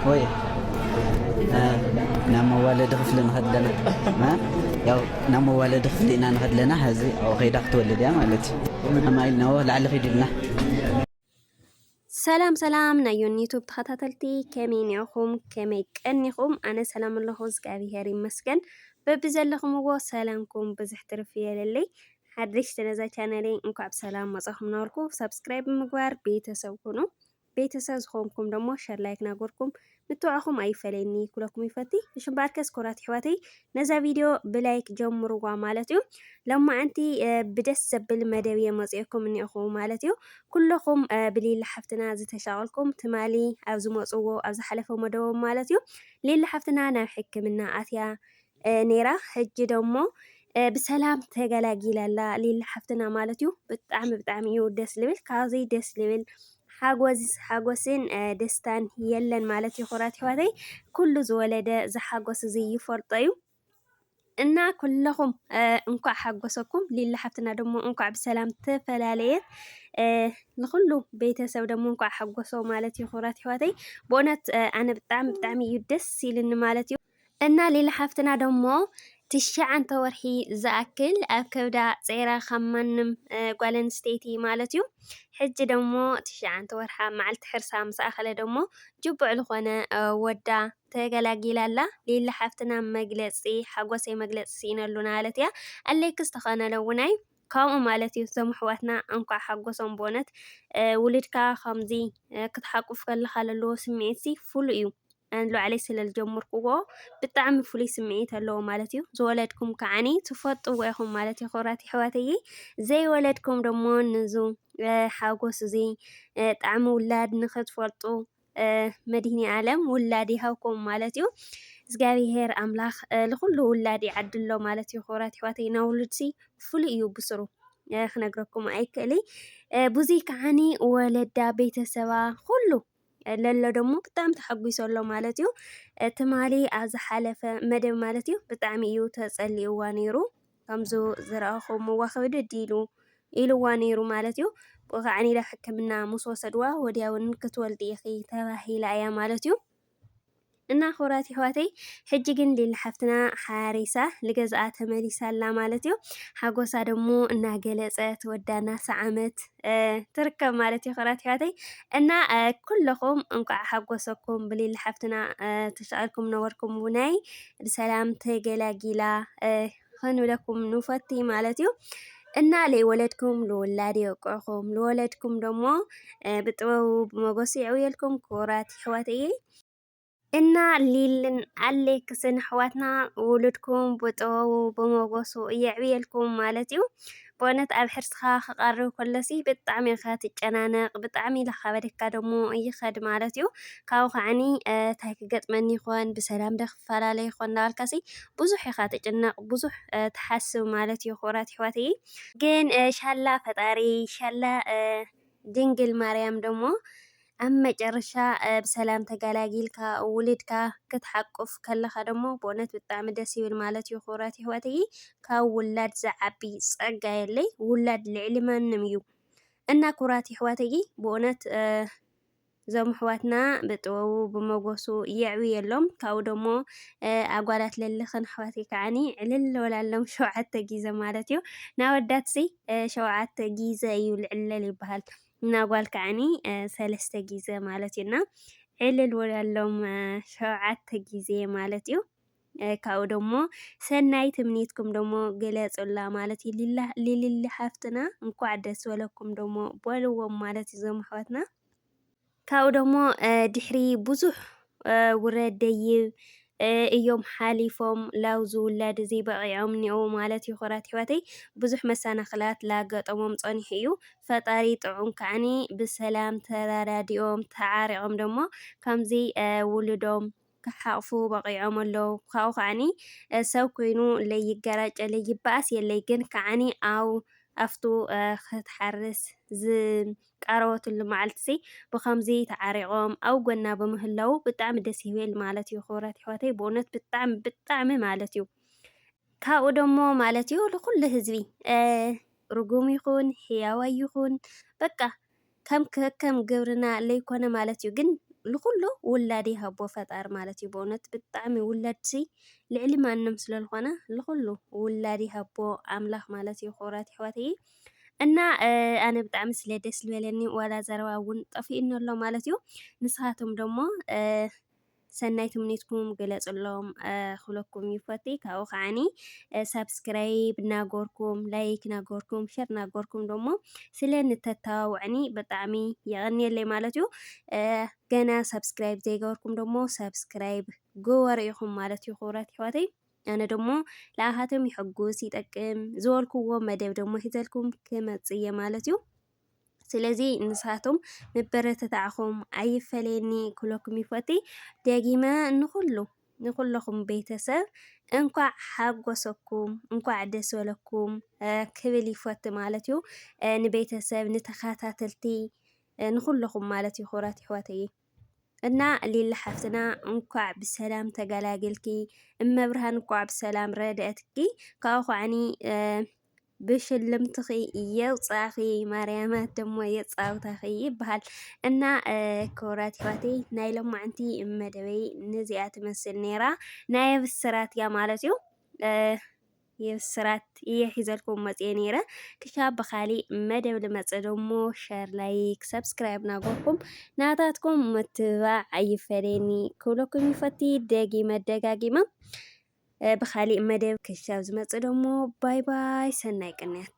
ሆየ ናብ መዋለዲ ክፍሊ ንኸድ ኣለና ያው ናብ መዋለዲ ክፍሊ ኢና ንኸድ ኣለና ሕዚ ኣብኡ ከይዳ ክትወልድ እያ ማለት እዩ ከማይ ኢልናዎ ላዕሊ ኺድ ኢልና ሰላም ሰላም ናይ ዮኒ ዩቱብ ተኸታተልቲ ከመይ ኒዕኹም ከመይ ቀኒኹም ኣነ ሰላም ኣለኹ እግዚኣብሄር ይመስገን በቢ ዘለኹምዎ ሰላምኩም ብዝሕ ትርፍ የለለይ ሓደሽቲ ነዛ ቻነለይ እንኳዕ ብሰላም መጻኹም እናበልኩ ሳብስክራይብ ብምግባር ቤተሰብ ኩኑ። ቤተሰብ ዝኾንኩም ደሞ ሸር ላይክ ናጎርኩም ምትብዕኹም ኣይፈለየኒ ኩለኩም ይፈቲ እሽም በኣርከስ ኮራት ይሕዋተይ ነዛ ቪድዮ ብላይክ ጀምርዋ ማለት እዩ ለማዓንቲ ብደስ ዘብል መደብ እየ መፅኦኩም እኒኹ ማለት እዩ ኩለኹም ብሌላ ሓፍትና ዝተሻቀልኩም ትማሊ ኣብ ዝመፅዎ ኣብ ዝሓለፈ መደቦም ማለት እዩ ሌላ ሓፍትና ናብ ሕክምና ኣትያ ነይራ ሕጂ ደሞ ብሰላም ተገላጊላ ኣላ ሊሊ ሓፍትና ማለት እዩ። ብጣዕሚ ብጣዕሚ እዩ ደስ ልብል። ካብዙይ ደስ ልብል ሓጎስን ደስታን የለን ማለት እዩ። ኩራት ይዋተይ ኩሉ ዝወለደ ዝሓጎስ እዙይ ይፈልጦ እዩ። እና ኩለኹም እንኳዕ ሓጎሰኩም ሊሊ ሓፍትና ደሞ እንኳዕ ብሰላም ተፈላለየት። ንኹሉ ቤተሰብ ደሞ እንኳዕ ሓጎሶ ማለት እዩ። ኩራት ይዋተይ ብእውነት ኣነ ብጣዕሚ ብጣዕሚ እዩ ደስ ኢልኒ ማለት እዩ። እና ሊሊ ሓፍትና ደሞ ትሽዓንተ ወርሒ ዝኣክል ኣብ ከብዳ ጸይራ ካብ ማንም ጓል ኣንስተይቲ ማለት እዩ ሕጂ ደሞ ትሽዓንተ ወርሓ መዓልቲ ሕርሳ ምስ ኣኸለ ደሞ ጅቡዕ ዝኾነ ወዳ ተገላጊላ ኣላ ሊሊ ሓፍትና መግለጺ ሓጎሰይ መግለጺ ስኢነሉ ማለት እያ ኣለይክስ ተኸነለውናይ ከምኡ ማለት እዩ እዞም ኣሕዋትና እንኳዕ ሓጎሶም ብእውነት ውልድካ ከምዚ ክትሓቁፍ ከለካ ለለዎ ስምዒት ሲ ፍሉይ እዩ ኣን ሎዓለይ ስለ ዝጀምርክዎ ብጣዕሚ ፍሉይ ስምዒት ኣለዎ ማለት እዩ ዝወለድኩም ከዓኒ ትፈጥዎ ኢኹም ማለት እዩ ክብራት ይሕዋተይ ዘይወለድኩም ደሞ ንዙ ሓጎስ እዚ ጣዕሚ ውላድ ንክትፈልጡ መድህኒ ኣለም ውላድ ይሃብኩም ማለት እዩ እግዚኣብሄር ኣምላኽ ንኹሉ ውላድ ይዓድሎ ማለት እዩ ክብራት ኣሕዋተይ ናብ ውሉድሲ ፍሉይ እዩ ብስሩ ክነግረኩም ኣይክእልይ ብዙይ ከዓኒ ወለዳ ቤተሰባ ኩሉ ለሎ ደሞ ብጣዕሚ ተሓጒሶ ኣሎ ማለት እዩ ትማሊ ኣብ ዝሓለፈ መደብ ማለት እዩ ብጣዕሚ እዩ ተጸሊእዋ ነይሩ ከምዚ ዝረኣኹ እሞ ክብድድ ኢሉ ኢሉዋ ነይሩ ማለት እዩ። ብኡ ከዓ ናብ ሕክምና ምስ ወሰድዋ ወዲያውን ክትወልዲ ኢኺ ተባሂላ እያ ማለት እዩ። እና ክቡራት ይሕዋተይ ሕጂ ግን ሊሊ ሓፍትና ሓሪሳ ልገዛኣ ተመሊሳ ኣላ ማለት እዩ ሓጎሳ ደሞ እናገለጸት ወዳ እናሰዓመት ትርከብ ማለት እዩ ክብራት ኣሕዋተይ እና ኩለኹም እንኳዕ ሓጎሰኩም ብሊሊ ሓፍትና ተሻቂልኩም ነበርኩም ውናይ ብሰላም ተገላጊላ ክንብለኩም ንፈቲ ማለት እዩ እና ለይወለድኩም ልውላድ የውቅዕኹም ልወለድኩም ደሞ ብጥበቡ ብመጎሱ የዕውየልኩም ክቡራት ኣሕዋተይ እና ሊልን ኣሌክስን ኣሕዋትና ውሉድኩም ብጥበቡ ብሞገሱ የዕብየልኩም ማለት እዩ። ብእውነት ኣብ ሕርስኻ ክቐርብ ከሎሲ ብጣዕሚ ኢኻ ትጨናነቕ ብጣዕሚ ላኻበደካ ደሞ ይኸድ ማለት እዩ ካብኡ ከዓኒ እንታይ ክገጥመኒ ይኾን ብሰላም ዶ ክፈላለ ይኾን እናበልካሲ ብዙሕ ኢኻ ትጭነቕ ብዙሕ ትሓስብ ማለት እዩ ክቡራት ኣሕዋተይ ግን ሻላ ፈጣሪ ሻላ ድንግል ማርያም ደሞ ኣብ መጨረሻ ብሰላም ተጋላጊልካ ውልድካ ክትሓቁፍ ከለካ ደሞ ብእውነት ብጣዕሚ ደስ ይብል ማለት እዩ ክብራት ይሕዋተይ ካብ ውላድ ዝዓቢ ጸጋ የለይ ውላድ ልዕሊ ማንም እዩ እና ክብራት ይሕዋተይ ብእውነት እዞም ኣሕዋትና ብጥበቡ ብመጎሱ የዕብየሎም ካብኡ ደሞ ኣጓላት ለልኽን ኣሕዋተይ ከዓኒ ዕልል ንበላሎም ሸውዓተ ጊዘ ማለት እዩ ናወዳትሲ ሸውዓተ ጊዘ እዩ ልዕለል ይበሃል ናጓል ከዓኒ ሰለስተ ጊዘ ማለት እዩና ዕልል ወላሎም ሸውዓተ ጊዜ ማለት እዩ ካብኡ ደሞ ሰናይ ትምኒትኩም ደሞ ግለጹላ ማለት እዩ ሊሊ ሃፍትና እንኳዕ ደስ በለኩም ደሞ በልዎም ማለት እዩ ዞም ኣሕዋትና ካብኡ ደሞ ድሕሪ ብዙሕ ውረድ ደይብ እዮም ሓሊፎም ላው ዝውለድ እዚ በቒዖም እኔዉ ማለት እዩ። ክብራት ኣሕዋተይ ብዙሕ መሰናኽላት ላጋጠሞም ጸኒሑ እዩ። ፈጣሪ ጥዑም ከዓኒ ብሰላም ተረዳዲኦም ተዓሪቖም ደሞ ከምዚ ውሉዶም ክሓቕፉ በቒዖም ኣሎዉ። ካብኡ ከኣኒ ሰብ ኮይኑ ለይገራጨ ለይበኣስ የለይ ግን ከኣኒ ኣው ኣፍቱ ክትሓርስ ዝቃረበትሉ መዓልቲሲ ብከምዚ ተዓሪቖም ኣብ ጎና ብምህላዉ ብጣዕሚ ደስ ይብል ማለት እዩ ክብራት የሕዋተይ ብእውነት ብጣዕሚ ብጣዕሚ ማለት እዩ ካብኡ ደሞ ማለት እዩ ንኩሉ ህዝቢ ርጉም ይኹን ሕያዋይ ይኹን በቃ ከም ከከም ግብርና ለይኮነ ማለት እዩ ግን ንኩሉ ውላድ ይሃቦ ፈጣሪ ማለት እዩ በእውነት ብጣዕሚ ውላድሲ ልዕሊ ማንም ስለልኾነ ንኩሉ ውላድ ይሃቦ ኣምላኽ ማለት እዩ ክቡራት ኣሕዋተይ እና ኣነ ብጣዕሚ ስለ ደስ ዝበለኒ ዋላ ዘረባ እውን ጠፊኡኒ ኣሎ ማለት እዩ ንስኻትኩም ደሞ ሰናይ ትምኒትኩም ግለጽሎም ክብለኩም ይፈቲ ካብኡ ከዓኒ ሳብስክራይብ ናጎርኩም ላይክ ናጎርኩም ሸር ናጎርኩም ደሞ ስለ ንተታዋውዕኒ ብጣዕሚ የቐንየለይ ማለት እዩ ገና ሳብስክራይብ ዘይገበርኩም ደሞ ሳብስክራይብ ግበሩ ኢኹም ማለት እዩ ክብረት ይሕዋተይ ኣነ ደሞ ለኣኻቶም ይሕጉስ ይጠቅም ዝበልኩዎ መደብ ደሞ ሒዘልኩም ክመጽእ እየ ማለት እዩ ስለዚ ንሳቶም ምበረተታዕኹም ኣይፈለየኒ ክብለኩም ይፈቲ ደጊመ ንኹሉ ንኹለኹም ቤተሰብ እንኳዕ ሓጎሰኩም እንኳዕ ደስ በለኩም ክብል ይፈቲ ማለት እዩ ንቤተሰብ ንተኸታተልቲ ንኹለኹም ማለት እዩ ክብራት ይሕዋተይ እና ሊሊ ሓፍትና እንኳዕ ብሰላም ተገላገልኪ እመብርሃን እኳዕ ብሰላም ረድኤትኪ ካብኡ ኳዕኒ ብሽልምትኺ የውፃኺ ማርያማ ደሞ የፃውታኺ ይበሃል እና ክብራት ይፋቴ ናይ ሎማዕንቲ መደበይ ነዚኣ ትመስል ነይራ ናይ ብስራት እያ ማለት እዩ። የብስራት እየ ሒዘልኩም መጽየ ነይረ ክሻብ ብካሊእ መደብ ልመጽእ ደሞ ሸር ላይክ ሰብስክራይብ ናጎርኩም ናታትኩም ምትብባዕ ኣይፈለየኒ ክብለኩም ይፈቲ ደጊመ ደጋጊመ ብካሊእ መደብ ክሻብ ዝመጽእ ደሞ ባይ ባይ ሰናይ ቅንያት